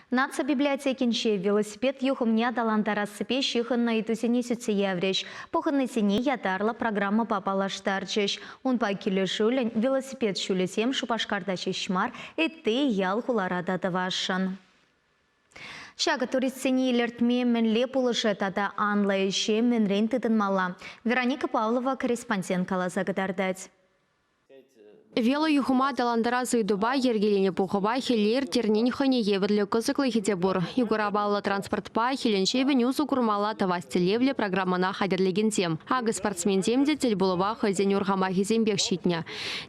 Наци библиотекинче велосипед юхӑмне аталантарассипе ҫыхӑннӑ ыйтусене сӳтсе яврӗҫ. Пухӑннисене ятарлӑ программӑпа паллаштарчӗҫ. Унпа килӗшӳллӗн велосипед ҫулӗсем Шупашкарта ҫеҫ мар, ытти ял-хулара та тӑвасшӑн. Ҫакӑ туристсене илӗртме мӗнле пулӑшӗ тата анлӑ ӗҫе мӗнрен тытӑнмалла? Вероника Павлова корреспондент каласа кӑтартать. Велоюхӑма аталантарас ыйтупа йӗркеленӗ пухӑва хӗле ирттернин хӑйне евӗрлӗ кӑсӑклӑхӗ те пур. Югора паллӑ транспортпа хӗленҫепӗн усӑ курмалла тӑвас тӗллевлӗ программӑна хатӗрлекенсем, акӑ спортсменсем те тӗлпулӑва хӑйсен урхамахӗсемпех ҫитнӗ.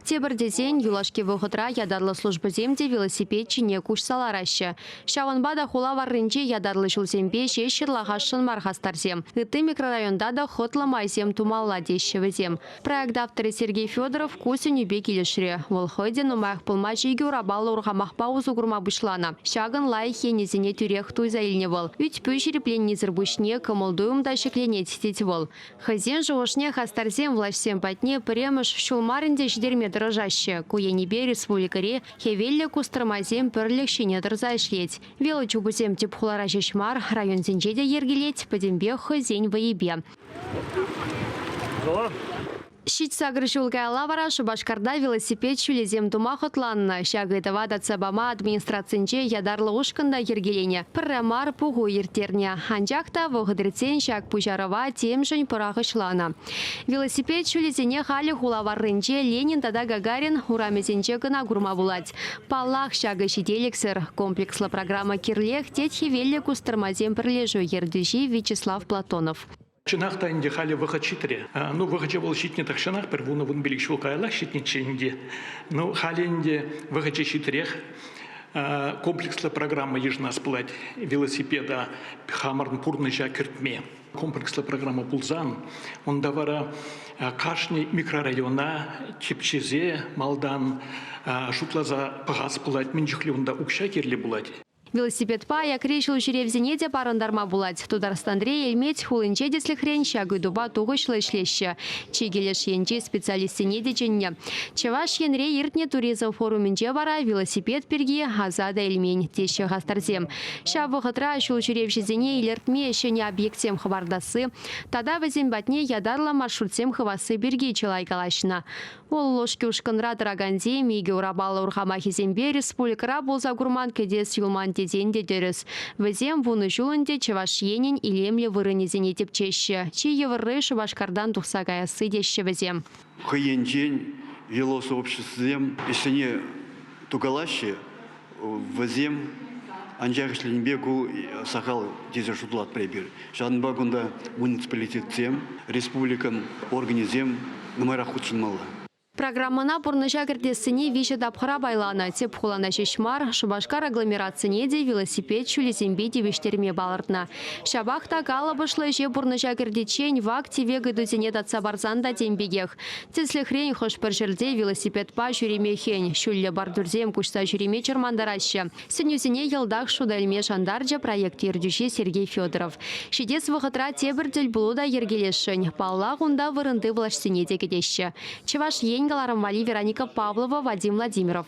Тепӗр тесен, юлашки вӑхӑтра ятарлӑ службӑсем те велосипед ҫине куҫса лараҫҫӗ. Ҫавӑнпа та хула варринче ятарлӑ ҫулсемпе ҫеҫ ҫырлахасшӑн мар хастарсем. Ытти микрорайонта та хӑтлӑ майсем тумалла теҫҫӗ вӗсем. Проект авторӗ Сергей Федоров ку сӗнӳпе килӗшрӗ. Вӑл хӑй те нумаях пулмасть икӗ урапаллӑ урхамахпа усӑ курма пуҫланӑ. Ҫакӑн лайӑх енӗсене тӳрех туйса илнӗ вӑл. Ӳт-пӳ ҫирӗпленнисӗр пуҫне кӑмӑл-туйӑм та ҫӗкленет, тет вӑл. Хӑйсен шухӑшне хастарсем влаҫсем патне пӗрремӗш ҫул мар ӗнтӗ ҫитерме тӑрӑшаҫҫӗ. Ку енӗпе республикӑри хӗвеллӗ кустӑрмасем пӗрлӗх ҫине тӑрса ӗҫлет. Велочупусем тӗп хулара ҫеҫ мар, районсенче те йӗркелет, пӗтӗмпех хӑйсен вӑйӗпе. Ҫитсакӑр ҫул каялла вара Шупашкарта велосипед ҫулӗсем тума хӑтланнӑ. Ҫак ыйтӑва татса пама администрацинче ятарлӑ ушкӑн та йӗркеленӗ. Пӗрре мар пуху ирттернӗ. Анчах та вӑхӑт иртсен ҫак пуҫарӑва темшӗн пӑрахӑҫланӑ. Велосипед ҫулӗсене халӗ хула варринче Ленин тата Гагарин урамӗсенче кӑна курма пулать. Паллах, ҫакӑ ҫителӗксӗр. Комплекслӑ программа кирлех, тет Хӗвеллӗ кустӑрмасем пӗрлешӳ ертӳҫи Вячеслав Платонов. Чӑнах та ӗнтӗ халӗ вӑхӑт ҫитрӗ. Ну, вӑхӑчӗ вӑл ҫитнӗ тахҫанах, пӗр вунӑ-вун пилӗк ҫул каяллах ҫитнӗччӗ ӗнтӗ. Ну, халӗ ӗнтӗ вӑхӑчӗ ҫитрех. Комплекслӑ программа йышӑнас пулать велосипеда хамӑрӑн пурнӑҫа кӗртме. комплекслӑ программа пулсан, унта вара кашни микрорайона типчесе малтан шутласа пӑхас пулать, мӗн чухлӗ унта укҫа кирлӗ пулать. Велосипедпа аякри ҫул ҫӳревсене те парӑнтарма пулать. Тутарстанри Элмет хулинче тӗслӗхрен ҫак ыйтупа тухӑҫлӑ ӗҫлеҫҫӗ. Чикӗ леш енчи специалистсене те чӗннӗ. Чӑваш Енре иртнӗ туризм форумӗнче вара велосипед пирки Асада Элмен теҫҫӗ хастарсем. Ҫав вӑхӑтра ҫул ҫӳревҫӗсене илӗртме ҫӗнӗ объектсем хӑпартасси тата вӗсем патне ятарлӑ маршрутсем хывасси пирки чылай калаҫнӑ. Вӑл Лошки ушкӑнра тӑракансем икӗ урапаллӑ урхамахӗсемпе республикӑра пулса курман кӗтес юлман тесен те тӗрӗс. Вӗсем вунӑ ҫул ӗнтӗ Чӑваш Енӗн илемлӗ вырӑнӗсене тӗпчеҫҫӗ. Чи йывӑрри Шупашкартан тухса каясси теҫҫӗ вӗсем. хӑй енчен велосообществӑсем ӗҫсене тукалаҫҫӗ вӗсем. Анчах ӗҫленипе ку сахал тесе шутлатпӑр эпир. Ҫавӑнпа кунта муниципалитетсем, республикӑн органӗсем нумайрах хутшӑнмалла. Программӑна пурнӑҫа кӗртессине виҫӗ тапхӑра пайланӑ тӗп хулана ҫеҫ мар, Шупашкар агломерацине те велосипед ҫулӗсемпе тивӗҫтерме палӑртнӑ. Ҫапах та калӑпӑшлӑ ӗҫе пурнӑҫа кӗртиччен вак-тӗвек ыйтусене татса парсан та тем пекех. Тӗслӗхрен, хӑш-пӗр ҫӗрте велосипедпа ҫӳреме хӗн, ҫӳллӗ бардюрсем куҫса ҫӳреме чӑрмантараҫҫӗ. Сӗнӳсене йӑлтах шута илме шантарчӗ проект ертӳҫи Сергей Федоров. Ҫитес вӑхӑтра тепӗр тӗлпулу та йӗркелесшӗн. Паллах, унта вырӑнти влаҫсене те кӗтеҫҫӗ. Чӑваш Ен кӑларӑм валли Вероника Павлова, Вадим Владимиров.